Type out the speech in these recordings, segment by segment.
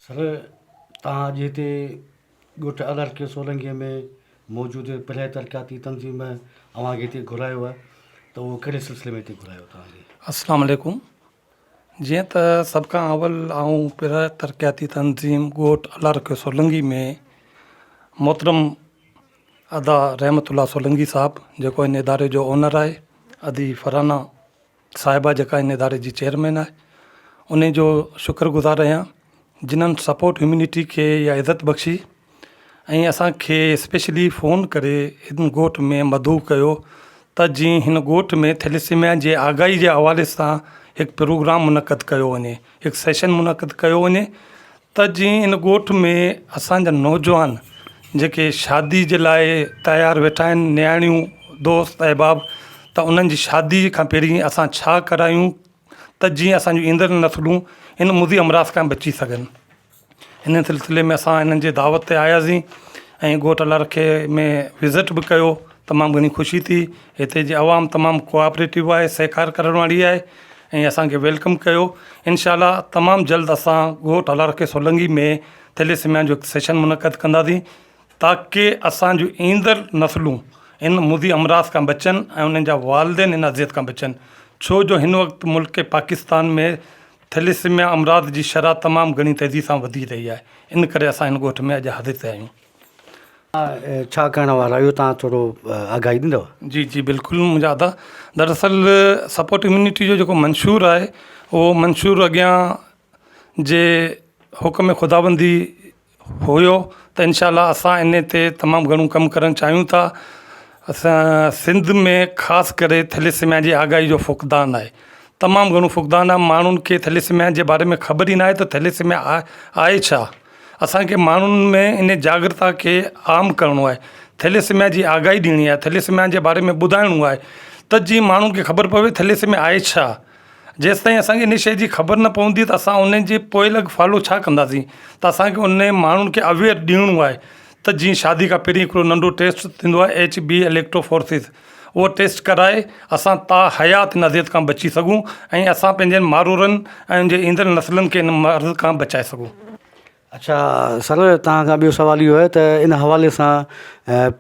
سر توهان اڄ هتي ڳوٺ الهرڪي سولنگي ۾ موجود پرهيه ترقياتي تنظيم اوهان کي هتي گهرايو آهي ته اهو ڪهڙي سلسلي ۾ هتي گهرايو توهان کي؟ السلام عليڪم جيئن ته سڀ کان اول آئون پرهه ترقياتي تنظيم ڳوٺ الله رکيو سولنگي ۾ محترم ادا رحمت الله سولنگي صاحب جيڪو ان اداري جو اونر آهي ادي فرحانا صاحبه جيڪا ان اداري جي چيئرمين آهي انهي جو شڪر گذار آهيان جنن سپورٽ هيومنٽي کي اها عزت بخشي ۽ اسان کي اسپيشلي فون ڪري هن ڳوٺ ۾ مدعو ڪيو ته جيئن هن ڳوٺ ۾ ٿيليسيميا جي آگاهي جي حوالي سان هڪ پروگرام منعقد ڪيو وڃي هڪ سيشن منعقد ڪيو وڃي ته جيئن هن ڳوٺ ۾ اسانجا نوجوان جيڪي شادي جي لاء تيار ويٺا آهن نياڻيون دوست احباب ته انهن جي شادي کان پهرين اسان ڇا ڪرايون ته جيئن اسانجو ايندڙ نسلون هن مضي امراض کان بچي سگهن ان سلسلي ۾ اسان انهن جي دعوت تي آياسين ۽ ڳوٺ لڙکي ۾ وزٽ به ڪيو تمام گهڻي خوشي ٿي هتي جي عوام تمام ڪوآپريٽو آهي سهڪار ڪرڻ واري آهي ۽ اسانکي ويلڪم ڪيو انشاء الله تمام جلد اسان ڳوٺ لڙکي سولنگي ۾ ٿيليسميا جو هڪ سيشن منعقد ڪنداسين تاڪي اسان جون ايندڙ نسلون ان مضي امراض کان بچن ۽ انهن جا والدين ان اذيت کان بچن ڇو جو هن وقت ملڪ پاڪستان ۾ ٿيليسيميا امراض جي شرح تمام گهڻي تيزي سان وڌي رهي آهي ان ڪري اسان هن ڳوٺ ۾ اڄ حاضر ٿيا آهيون. ڇا ڪرڻ وارا اهو تان ٿورو آگاهي ڏيندو. جي جي بلڪل منهنجا ادا دراصل سپورٽ اميونٽي جو جيڪو منشور آهي اهو منشور اڳيان جي حڪم خداوندي هيو ته انشاء الله اسان ان تي تمام گهڻو ڪم ڪرڻ چاهيون ٿا اسان سنڌ ۾ خاص ڪري ٿيليسميا جي آگاهي جو فقدان آهي تمام گهڻو فقدان آهي ماڻهن کي ٿيليسميا جي باري ۾ خبر ئي ناهي ته ٿيليسميا آهي ڇا اسانکي ماڻهن ۾ ان جاگرتا کي عام ڪرڻو آهي ٿيليسميا جي آگاهي ڏيڻي آهي ٿيليسميا جي باري ۾ ٻڌائڻو آهي ته جي ماڻهن کي خبر پوي ٿيليسميا آهي ڇا جيستائين اسان کي ان شيء جي خبر نه پوندي ته اسان ان جي پوئلڳ فالو ڇا ڪنداسين ته اسان کي ان ماڻهن کي اويئر ڏيڻو آهي ته جيئن شادي کان پهرين هڪڙو ننڍو ٽيسٽ ٿيندو آهي ايچ بي اليڪٽرو فورسز اهو ٽيسٽ ڪرائي اسان تا حيات ان اذيت کان بچي سگهون ۽ اسان پنهنجن مارورن ۽ ان جي ايندڙ نسلن کي ان مرض کان بچائي سگهون اڇا سر توهان کان ٻيو سوال اهو آهي ته ان حوالي سان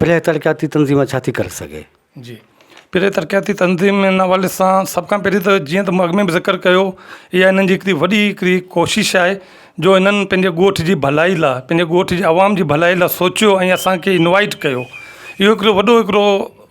پرينء ترقياتي تنظيم ڇا ٿي ڪري سگهي؟ جي پرينء ترقياتي تنظيم ان حوالي سان سڀ کان پهرين ته جيئن ته مون اڳ ۾ به ذڪر ڪيو اها هنن جي هڪڙي وڏي هڪڙي ڪوشش آهي جو هنن پنهنجي ڳوٺ جي ڀلائي لاء پنهنجي ڳوٺ جي عوام جي ڀلائي لاء سوچيو ۽ اسانکي انوائٽ ڪيو اهو هڪڙو وڏو هڪڙو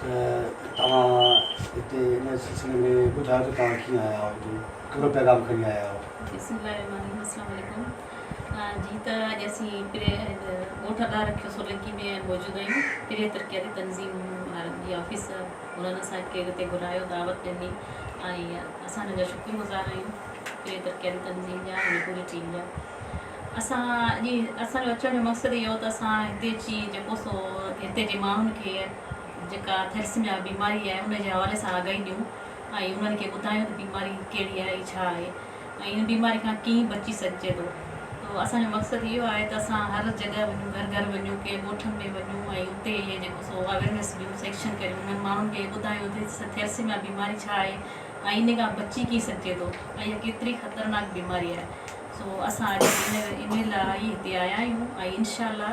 ته توهان هتي ان سلسلي ۾ ٻڌايو ته توهان ڪيئن آيا آهيو هتي ڪهڙو پيغام کڻي آيا آهيو. بسم الله الرحمٰن الرحيم السلام عليڪم جي ته اڄ اسين پري ڳوٺ اڏا رکيو سولنڪي ۾ موجود آهيون پري ترقياتي تنظيم وارن جي آفيس مولانا صاحب کي هتي گهرايو دعوت ڏني ۽ اسان انهن جا شڪر گذار آهيون پري ترقياتي تنظيم جا ۽ پوري ٽيم جا اسان جي اسان جو اچڻ جو مقصد اهو هو ته اسان هتي اچي جيڪو سو هتي جي ماڻهن کي جيڪا ٿيلسميا بيماري آهي ان جي حوالي سان آگاهي ڏيون ۽ انهن کي ٻڌايون ته بيماري ڪهڙي آهي ۽ ڇا آهي ۽ ان بيماري کان ڪيئن بچي سگهجي ٿو ته اسان جو مقصد اهو آهي ته اسان هر جڳهه وڃون گهر گهر وڃون ڪنهن ڳوٺن ۾ وڃون ۽ اتي جيڪو سو اويرنس ڏيون سيڪشن ڪريون انهن ماڻهن کي ٻڌايون ته ٿيلسميا بيماري ڇا آهي ۽ ان کان بچي ڪيئن سگهجي ٿو ۽ اها ڪيتري خطرناڪ بيماري آهي سو اسان اڄ انهي لاء ئي هتي آيا آهيون ۽ انشاء الله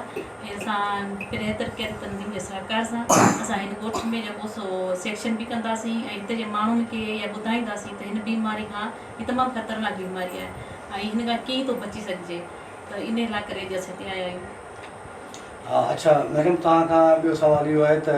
اسان بهتر ڪيل تنظيم جي سهڪار سان اسان هن ڳوٺ ۾ جيڪو سو سيڪشن به ڪنداسين ۽ هتي جي ماڻهن کي اها ٻڌائينداسين ته هن بيماري کان هي تمام خطرناڪ بيماري آهي ۽ هن کان ڪيئن ٿو بچي سگهجي ته انهي لاء ڪري اڄ اسان هتي آيا آهيون. اڇا ميڊم توهان کان ٻيو سوال اهو آهي ته.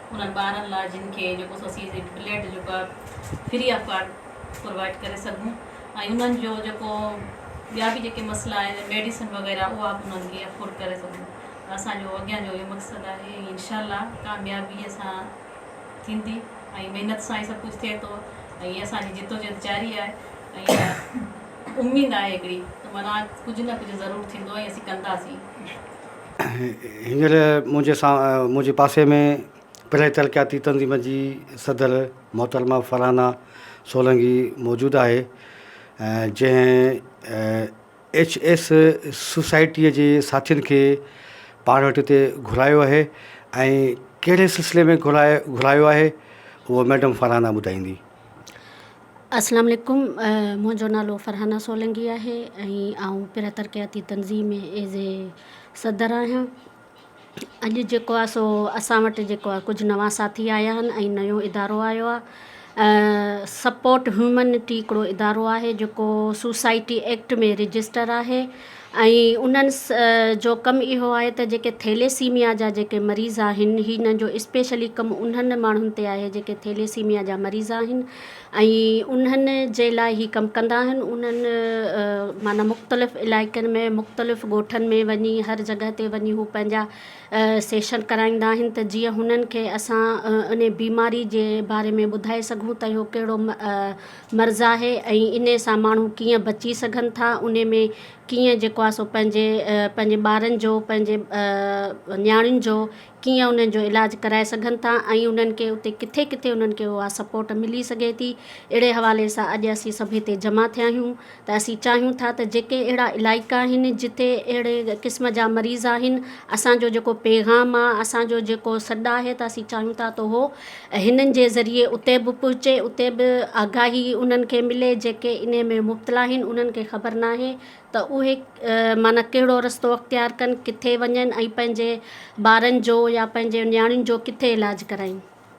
انهن ٻارن لاء جن کي جيڪو سو اسين جي بلڊ جيڪو آهي فري آف ڪارڊ پرووائيڊ ڪري سگهون ۽ انهن جو جيڪو ٻيا به جيڪي مسئلا آهن ميڊيسن وغيره اها به انهن کي افورڊ ڪري سگهون اسان جو اڳيان جو اهو مقصد آهي ۽ انشاء الله ڪاميابي سان ٿيندي ۽ محنت سان ئي سڀ ڪجهه ٿئي ٿو ۽ اسانجي جدوجهد جاري آهي ۽ اميد آهي هڪڙي ته منا ڪجهه نه ڪجهه ضرور ٿيندو ۽ اسين ڪنداسين هينئر منهنجي سا منهنجي پاسي ۾ پرائي ترقياتي تنظيم جي صدر محترمه فرحانه سولنگي موجود آهي ۽ جنهن ايڇ ايس سوسائٽيء جي ساٿين کي پاڻ وٽ هتي گهرايو آهي ۽ ڪهڙي سلسلي ۾ گهرايو گهرايو آهي هو ميڊم فرحانه ٻڌائيندي اسلام عليڪم منهنجو نالو فرحانه سولنگي آهي ۽ آئون پره ترقياتي تنظيم ۾ ايز اي صدر آهيان اڄ جيڪو آهي سو اسان وٽ جيڪو آهي ڪجهه نوان ساٿي آيا آهن ۽ نيو ادارو آيو آهي سپورٽ هيومنٽي هڪڙو ادارو آهي جيڪو سوسائٽي ايڪٽ ۾ رجسٽر آهي ۽ انهن جو ڪم اهو آهي ته جيڪي ٿيليسيميا جا جيڪي مريض آهن هنن جو اسپيشلي ڪم انهن ماڻهن تي آهي جيڪي ٿيليسيميا جا مريض آهن ۽ انهن جي لاء هي ڪم ڪندا آهن انهن معنيٰ مختلف علائقن ۾ مختلف ڳوٺن ۾ وڃي هر جڳهه تي وڃي هو پنهنجا سيشن ڪرائيندا آهن ته جيئن هنن کي اسان انهي بيماري جي باري ۾ ٻڌائي سگهون ته اهو ڪهڙو مرض آهي ۽ ان سان ماڻهو ڪيئن بچي سگهن ٿا ان ۾ ڪيئن جيڪو آهي سو پنهنجي پنهنجي ٻارن جو پنهنجي نياڻين جو ڪيئن انهن جو علاج ڪرائي سگهن ٿا ۽ انهن کي اتي ڪٿي ڪٿي انهن کي اها سپورٽ ملي سگهي ٿي اهڙي حوالي سان اڄ اسين سڀ هتي جمع ٿيا آهيون ته اسين چاهيون ٿا ته جيڪي اهڙا علائقا آهن جتي اهڙي قسم جا مريض آهن اسان جو جيڪو پيغام آ اسان جو جيڪو سڏ آهي ته اسين چاهيون ٿا ته اهو هنن جي ذريعي اتي به پهچي اتي به آگاهي انهن کي ملي جيڪي انهي ۾ مبتلا آهن انهن کي خبر ناهي ته اهي معنيٰ ڪهڙو رستو اختيار ڪن ڪٿي وڃن ۽ پنهنجي ٻارن جو يا پنهنجي نياڻين جو ڪٿي علاج ڪرائين.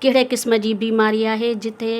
ڪهڙي قسم جي بيماري آهي جتي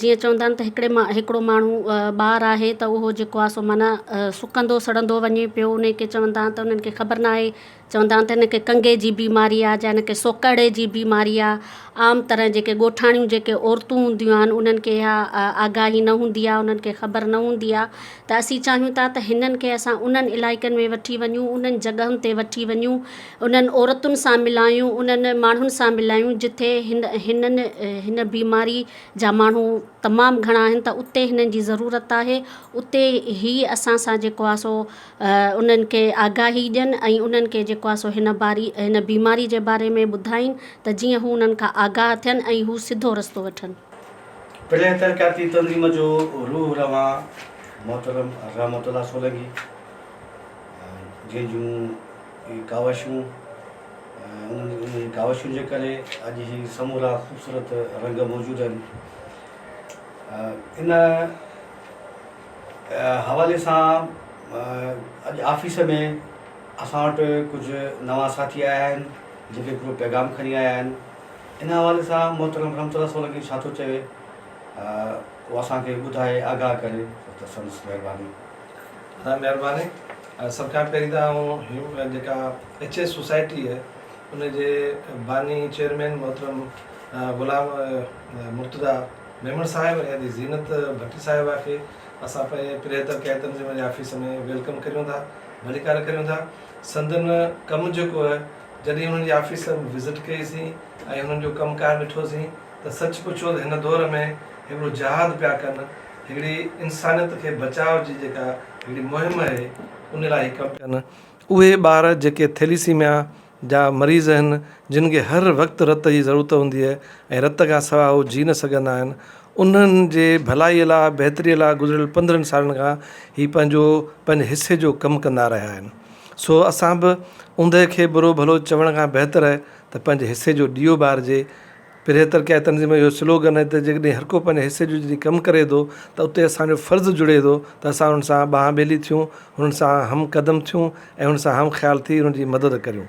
جيئن چوندا آهن ته هڪڙي مان هڪڙو ماڻهو ٻار آهي ته اهو جيڪو آهي سو معنيٰ سڪندو سڙندو وڃي پيو ان کي چوندا آهن ته انهن کي خبر نه آهي چوندا آهن ته ان کي ڪنگي جي بيماري آهي جا ان کي سوڪهڙي جي بيماري آهي عام طرح جيڪي ڳوٺاڻيون جيڪي عورتون هونديون آهن انهن کي اها آگاهي نه هوندي آهي انهن کي خبر نه هوندي آهي ته اسين چاهيون ٿا ته هنن کي اسان انهن علائقن ۾ وٺي وڃون انهن جڳهن تي وٺي وڃون انهن عورتن سان ملايون، انهن ماڻهن سان ملايون جتي هن هن بيماري جا ماڻهو تمام گهڻا آهن ته اتي هنن جي ضرورت آهي اتي هي اسان سان جيڪو آهي سو انهن کي آگاهي ڏين ۽ انهن کي جيڪو آهي سو هن باري هن بيماري جي باري ۾ ٻڌائين ته جيئن هو انهن کان آگاهه ٿين ۽ هو سڌو رستو وٺن. پرينء ترقياتي تنظيم جو روح روان محترم رحمت الله سولنگي جنهن جون. هي ڪاوشون ۽ انهن جي ڪاوشن جي ڪري اڄ هي سمورا خوبصورت رنگ موجود آهن ان حوالي سان اڄ آفيس ۾ اسان وٽ ڪجهه نوان ساٿي آيا آهن جن کي هڪڙو پيغام کڻي آيا آهن ان حوالي سان محترم رحمت الله سولنگي ڇا ٿو چوي اهو اسان کي ٻڌائي آگاهه ڪري ته سندس مهرباني تان مھرباني سڀ کان پھرين تان آئون جيڪا ايڇ ايس سوسائٽي اھي ان جي باني چيئرمين محترم غلام مرتضا ميمڻ صاحب ۽ ادي زينت ڀٽي صاحبه کي اسان پنھنجي پريھتر قائد تنظيم جي آفيس ۾ ويلڪم ڪريون ٿا ڀليڪار ڪريون ٿا سندن ڪم جيڪو اھي جڏھن انھن جي آفيس وزٽ ڪئي سين ۽ انھن جو ڪم ڪار ڏٺو سين ته سچ پڇو ته هن دور ۾ هڪڙو جهاد پيا ڪن، هڪڙي انسانيت کي بچاء جي جيڪا هڪڙي مهم اهي ان لاء هي ڪم پيا ڪن. اهي ٻار جيڪي ٿيليسيميا جا مريض اهن، جن کي هر وقت رت جي ضرورت هوندي اهي ۽ رت کان سواء هو جي نه سگهندا آهن، انهن جي ڀلائي لاء، بهتري لاء گذريل پندرهن سالن کان هي پنهنجو پنهنجي حصي جو ڪم ڪندا رهيا آهن. سو اسان به اوندهه کي برو ڀلو چوڻ کان بهتر اهي ته پنهنجي حصي جو ڏيئو ٻارجي پرهيه ترقياتي تنظيم جو اهو سلوگن آهي ته جيڪڏهن هرڪو پنهنجي حصي جو جڏهن ڪم ڪري ٿو ته اتي اسان جو فرض جڙي ٿو ته اسان هن سان ٻانهن ٻيلي ٿيون، هن سان همقدم ٿيون ۽ هن سان همخيال ٿي هن جي مدد ڪريون.